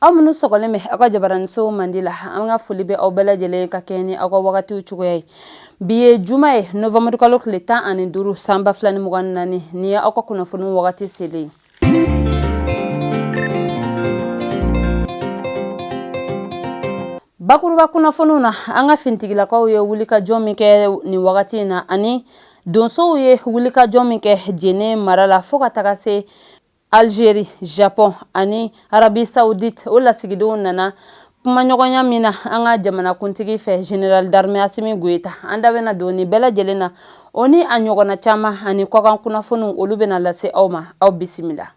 aw minnu sɔgɔlen bɛ aw ka jabaraninso mandi la an ka foli bɛ aw bɛɛ lajɛlen ka kɛɲɛ ni aw ka wagatiw cogoya ye bi ye juma ye nowanburukalo tile tan ani duuru san ba fila ni mugan naani nin ye aw ka kunnafoni wagati selen bakuruba kunnafoniw na an ka fintigilakaw ye wulikajɔ min kɛ nin wagati in na ani donsow ye wulikajɔ min kɛ Jɛnɛ mara la fo ka taga se Algérie, Japon ani Arabie Saoudite o lasigidenw nana kumaɲɔgɔnya min na an ka jamanakuntigi fɛ General d'armée Assimi Goïta an da bɛna don nin bɛɛ lajɛlen na o ni a ɲɔgɔnna caman ani kɔkan kunnafoniw olu bɛna lase aw ma aw bisimila.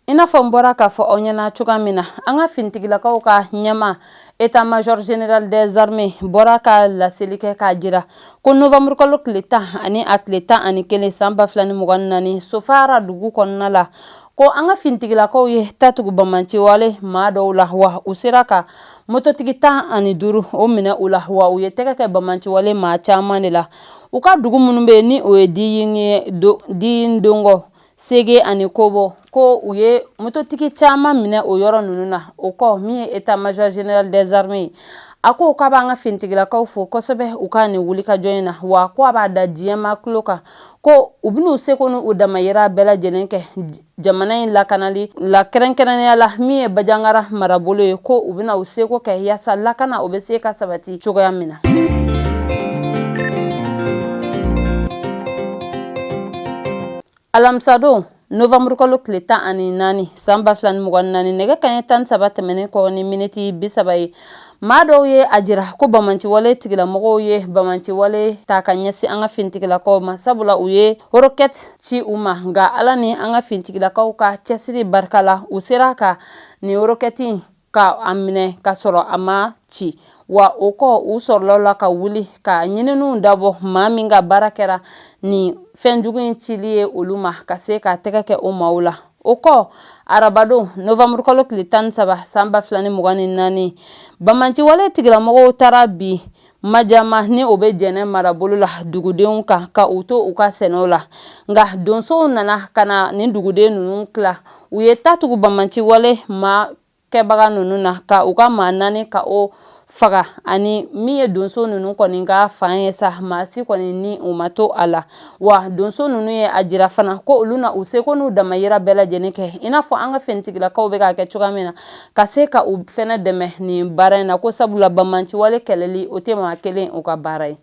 I n'a fɔ n bɔra k'a fɔ aw ɲɛna cogoya min na an ka finitigilakaw ka ɲɛma état-major général des armées bɔra ka laseli kɛ k'a jira ko nowanburukalo tile tan ani a tile tan ani kelen san ba fila ni mugan naani sofara dugu kɔnɔna la ko an ka finitigilakaw ye ta tugu bamanciwale maa dɔw la wa u sera ka mototigi tan ani duuru o minɛ u la wa u ye tɛgɛ kɛ bamanciwale maa caman de la u ka dugu minnu bɛ ni o ye Diyin Dongɔ sege ani kobɔ ko u ye mototigi caman minɛ o yɔrɔ ninnu na o kɔ min ye état-major général des armées ye a ko k'a b'an ka finitigilakaw fo kosɛbɛ u ka nin wulikajɔ in na wa ko a b'a da diɲɛ maa tulo kan ko u bɛn'u seko n'u damayira bɛɛ lajɛlen kɛ jamana in lakanali la kɛrɛnkɛrɛnnenya la min ye bajangara marabolo ye ko u bɛna u seko kɛ yaasa lakana o bɛ se ka sabati cogoya min na alamisadon nowanburukalo tile tan ani naani san ba fila ni mugan naani nɛgɛ kanɲɛ tan saba tɛmɛnen kɔ ni miniti bi saba ye maa dɔw ye a jira ko bamanciwale tigilamɔgɔw ye bamanciwale ta ka ɲɛsin an ka fintigilakaw ma sabula u ye horokɛti ci u ma nka ala ni an ka fintigilakaw ka cɛsiri barika la u sera ka nin horokɛti ka a minɛ ka sɔrɔ a ma ci wa o kɔ u sɔrɔla la ka wuli ka ɲininiw dabɔ maa min ka baara kɛra nin fɛnjugu in cili ye olu ma ka se ka tɛgɛ kɛ o maaw la o kɔ arabadon nowanburukalo tile tan ni saba san ba fila ni mugan ni naani bamanciwale tigilamɔgɔw taara bin Majama ni o bɛ jɛnɛ marabolo la dugudenw kan ka u to u ka sɛnɛ la nka donsow nana ka na nin duguden ninnu tila u ye ta tugu bamanciwale maa kɛbaga ninnu na ka u ka maa naani ka o faga ani min ye donso ninnu kɔni ka fan ye sa maa si kɔni ni o ma to a la wa donso ninnu ye a jira fana ko olu na u seko n'u damayira bɛɛ lajɛlen kɛ i n'a fɔ an ka finitigilakaw bɛ k'a kɛ cogoya min na ka se ka u fana dɛmɛ nin baara in na ko sabula bamanciwale kɛlɛli o tɛ maa kelen u ka baara ye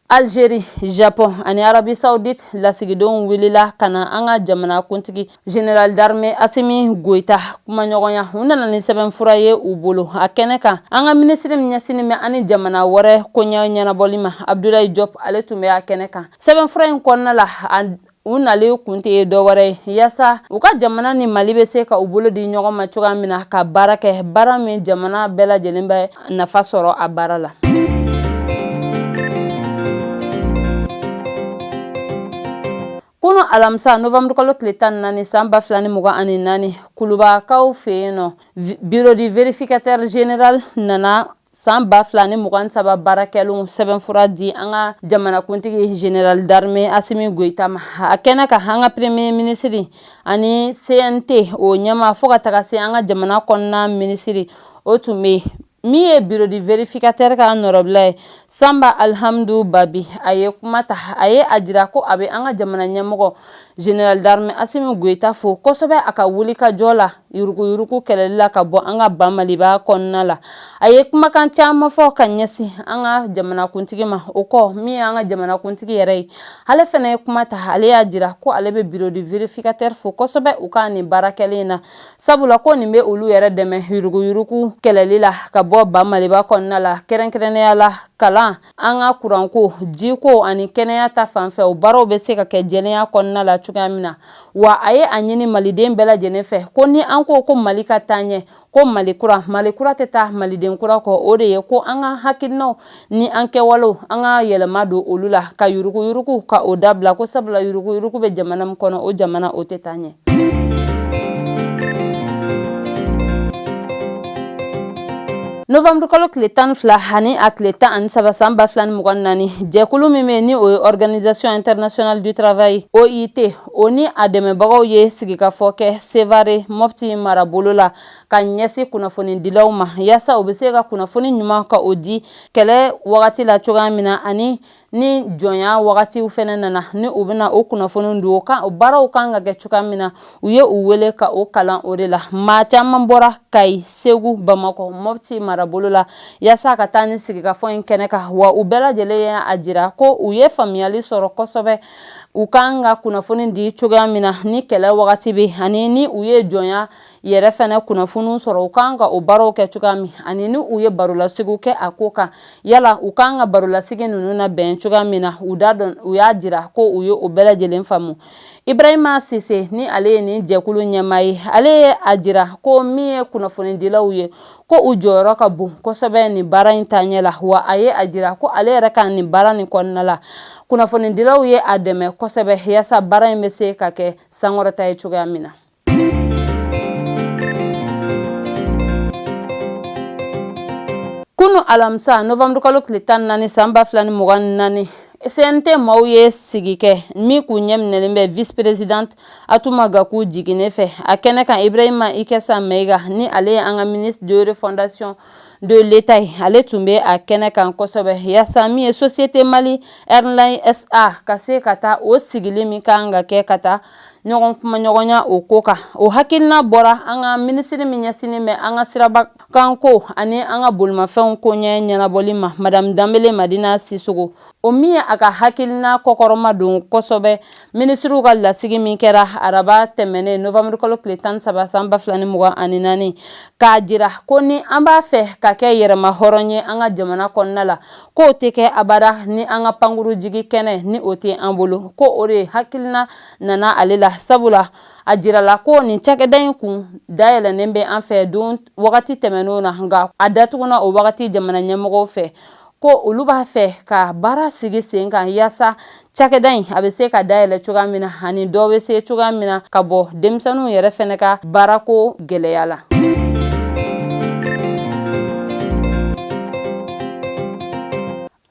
Algérie, Japon ani Arabie Saoudite lasigidenw wulila ka na an ka jamana kuntigi General d'armée Assimi Goïta kumaɲɔgɔnya u nana ni sɛbɛnfura ye u bolo a kɛnɛ kan an ka minisiri min ɲɛsinnen bɛ an ni jamana wɛrɛ koɲɛ ɲɛnabɔli ma Abdoulaye Diop ale tun bɛ a kɛnɛ kan sɛbɛnfura in kɔnɔna la u nalen kun tɛ ye dɔwɛrɛ ye yaasa u ka jamana ni mali bɛ se ka u bolo di ɲɔgɔn ma cogoya min na ka baara kɛ baara min jamana bɛɛ lajɛlen bɛ nafa sɔrɔ a baara la kunun alamisa nowanburukalo tile tan naani san ba fila ni mugan ani naani kulubakaw fɛ yen nɔ Bureau du vérificateur général nana san ba fila ni mugan saba baara kɛlen sɛbɛnfura di an ka jamanakuntigi General d'armée Assimi Goïta ma a kɛnɛ kan an ka premier ministre ani CNT o ɲɛmaa fo ka taga se an ka jamana kɔnɔna minisiri o tun bɛ yen min ye bureau du vérificateur ka nɔrɔbila ye Samba Alhamdou Baby a ye kuma ta a ye a jira ko a bɛ an ka jamana ɲɛmɔgɔ General d'armée Assimi Goïta fo kosɛbɛ a ka wulikajɔ la yuruguyurugu kɛlɛli la ka bɔ an ka ba maliba kɔnɔna la a ye kumakan caman fɔ ka ɲɛsin an ka jamanakuntigi ma o kɔ min ye an ka jamanakuntigi yɛrɛ ye ale fana ye kuma ta ale y'a jira ko ale bɛ bureau du vérificateur fo kosɛbɛ u ka nin baara kɛlen na sabula ko nin bɛ olu yɛrɛ dɛmɛ yuruguyurugu kɛlɛli la ka bɔ ba maliba kɔnɔna la kɛrɛnkɛrɛnnenya la kalan an ka kuranko jiko ani kɛnɛya ta fanfɛ o baaraw bɛ se ka kɛ jɛlenya kɔnɔna la cogoya min na wa a ye a ɲini maliden bɛɛ lajɛlen fɛ ko ni an ko ko mali ka taa ɲɛ ko mali kura mali kura tɛ taa maliden kura kɔ o de ye ko an ka hakilinaw ni an kɛwalew an ka yɛlɛma don olu la ka yuruguyurugu ka o dabila ko sabula yuruguyurugu bɛ jamana min kɔnɔ o jamana o tɛ taa ɲɛ nowanburukalo tile tan ni fila ani a tile tan ani saba san ba fila ni mugan naani jɛkulu min bɛ ni o ye organisation international du travail OIT o ni a dɛmɛbagaw ye sigikafɔ kɛ Sevare Mopti marabolo la ka ɲɛsin kunnafonidilaw ma yaasa u bɛ se ka kunnafoni ɲuman ka o di kɛlɛ wagati la cogoya min na ani ni jɔnya wagatiw fana nana ni u bɛna o kunnafoni di o baaraw kan ka kɛ cogoya min na u ye u wele ka o kalan o de la maa caman bɔra kayi segu bamakɔ mɔti marabolo la yaasa ka taa nin sigikafɔ in kɛnɛ kan wa u bɛɛ lajɛlen ye a jira ko u ye faamuyali sɔrɔ kosɛbɛ u kan ka kunnafoni di cogoya min na ni kɛlɛ wagati bɛ ani ni u ye jɔnya yɛrɛ fɛnɛ kunnafoniw sɔrɔ u kan ka o baaraw kɛ cogoya min ani ni u ye barolasigi kɛ a ko kan yala u kan ka barolasigi ninnu nabɛn cogoya min na u da dɔn u y'a jira ko u ye o bɛɛ lajɛlen faamu ibrahima sise ni ale ye nin jɛkulu ɲɛmaa ye ale ye a jira ko min ye kunnafonidilaw ye ko u jɔyɔrɔ ka bon kosɛbɛ nin baara in taaɲɛ la wa a ye a jira ko ale yɛrɛ ka nin baara nin kɔnɔna la kunnafonidilaw ye a dɛmɛ kosɛbɛ yaasa baara in bɛ se ka kɛ sankɔrɔta ye cogoya min na kunu alamisa novanburu kalo tile tan ni naani san ba fila ni mugan ni naani CNT maaw ye sigi kɛ min kun ɲɛminɛlen bɛ vice présidente Atuma Gaku Jigine fɛ a kɛnɛ kan Ibrahima Ikesa Maiga ni ale ye an ka ministre de refondation de l'État ye ale tun bɛ a kɛnɛ kan kosɛbɛ yaasa min ye société Mali Airline SA ka se ka taa o sigili min ka kan ka kɛ ka taa ɲɔgɔn kumaɲɔgɔnya o ko kan o hakilina bɔra an ka minisiri min ɲɛsinnen bɛ an ka sirabakanko ani an ka bolimafɛnw ko ɲɛ ɲɛnabɔli ma madamu danbele madina sisoko o min ye a ka hakilina kɔkɔrɔmadon kosɛbɛ minisiriw ka lasigi min kɛra araba tɛmɛnen novamuru kalo tile tan saba san ba fila ni mugan ani naani k'a jira ko ni an b'a fɛ ka kɛ yɛrɛmahɔrɔn ye an ka jamana kɔnɔna la k'o tɛ kɛ abada ni an ka pankuru jigi kɛnɛ ni o tɛ an bolo ko o de hakilina nana ale la sabula a jirala ko nin cakɛda in kun dayɛlɛnnen bɛ an fɛ don wagati tɛmɛnenw na nka a datuguna o wagati jamana ɲɛmɔgɔw fɛ ko olu b'a fɛ ka baara sigi sen kan yaasa Cakɛda in a bɛ se ka dayɛlɛ cogoya min na ani dɔ bɛ se cogoya min na ka bɔ denmisɛnninw yɛrɛ fɛnɛ ka baarako gɛlɛya la.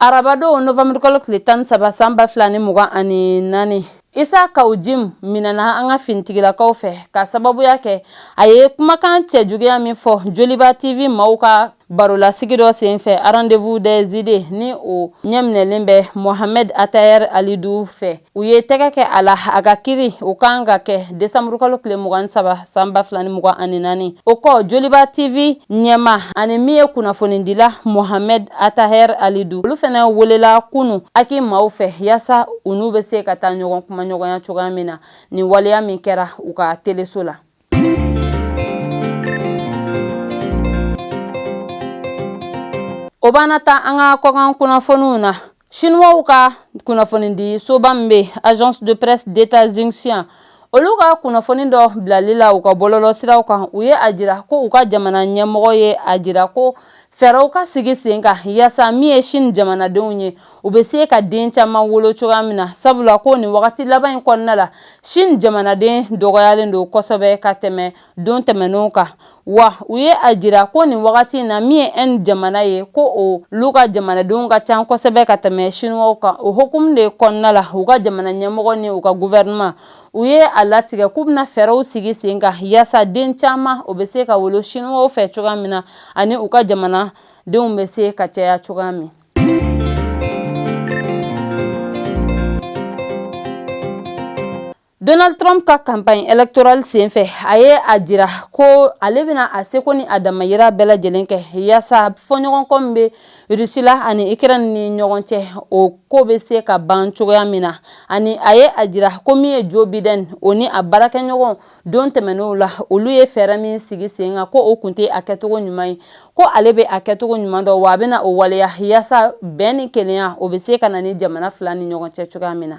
Arabadon novanburukalo tile tan saba san ba fila ni mugan ani naani Isa Kao Jim minɛna an ka finitigilakaw fɛ ka sababuya kɛ a ye kumakan cɛjuguya min fɔ Joliba TV maaw ka Barolasigi dɔ senfɛ rendez-vous des idées ni o ɲɛminɛlen bɛ Mohamed Attaher Halidou fɛ u ye tɛgɛ kɛ a la a ka kiri o kan ka kɛ desamurukalo tile mugan ni saba san ba fila ni mugan ani naani o kɔ joliba tv ɲɛmaa ani min ye kunnafonidila Mohamed Attaher Halidou olu fɛnɛ welela kunun HAC maaw fɛ yaasa u n'u bɛ se ka taa ɲɔgɔn kumaɲɔgɔnya cogoya min na nin waleya min kɛra u ka teleso la O b'an nataa an ka kɔkan kunnafoniw na siniwaw ka kunnafonidi soba min bɛ agence de presse d'État Xinhua olu ka kunnafoni dɔ bilali la u ka bɔlɔlɔsiraw kan u ye a jira ko u ka jamana ɲɛmɔgɔ ye a jira ko fɛɛrɛw ka sigi sen kan yaasa min ye Chine jamanadenw ye u bɛ se ka den caman wolo cogoya min na sabula ko nin wagati laban in kɔnɔna la Chine jamanaden dɔgɔyalen don kosɛbɛ ka tɛmɛ don tɛmɛnenw kan wa u ye a jira ko nin wagati in na min ye Inde jamana ye ko olu ka jamanadenw ka ca kosɛbɛ ka tɛmɛ Chinois kan o hukumu de kɔnɔna la u ka jamana ɲɛmɔgɔ ni u ka gouvernement u ye a latigɛ k'u bɛna fɛɛrɛw sigi sen kan yaasa den caman o bɛ se ka wolo Chinois fɛ cogoya min na ani u ka jamanadenw bɛ se ka caya cogoya min Donald Trump ka campagne électorale senfɛ a ye a jira ko ale bɛna a seko ni a damayira bɛɛ lajɛlen kɛ yaasa fɔɲɔgɔnkɔ min bɛ Russie la ani Ukraine ni ɲɔgɔn cɛ o ko bɛ se ka ban cogoya min na ani a ye a jira ko min ye Joe Biden o ni a baarakɛɲɔgɔn don tɛmɛnenw la olu ye fɛɛrɛ min sigi sen kan ko o kun tɛ a kɛcogo ɲuman ye ko ale bɛ a kɛcogo ɲuman dɔn wa a bɛna o waleya yaasa bɛn ni kelenya o bɛ se ka na nin jamana fila ni ɲɔgɔn cɛ cogoya min na.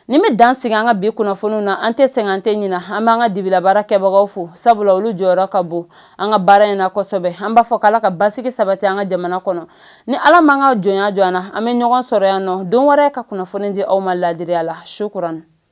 Nin bɛ dan sigi an ka bi kunnafoniw na an tɛ sɛgɛn an tɛ ɲina an b'an ka dibi la baarakɛbagaw fo sabula olu jɔyɔrɔ ka bon an ka baara in na kosɛbɛ an b'a fɔ k' ala ka basigi sabati an ka jamana kɔnɔ ni ala m'an ka jɔnya jɔ an na an bɛ ɲɔgɔn sɔrɔ yan nɔ don wɛrɛ ka kunnafoni di aw ma laadiriya la sukuran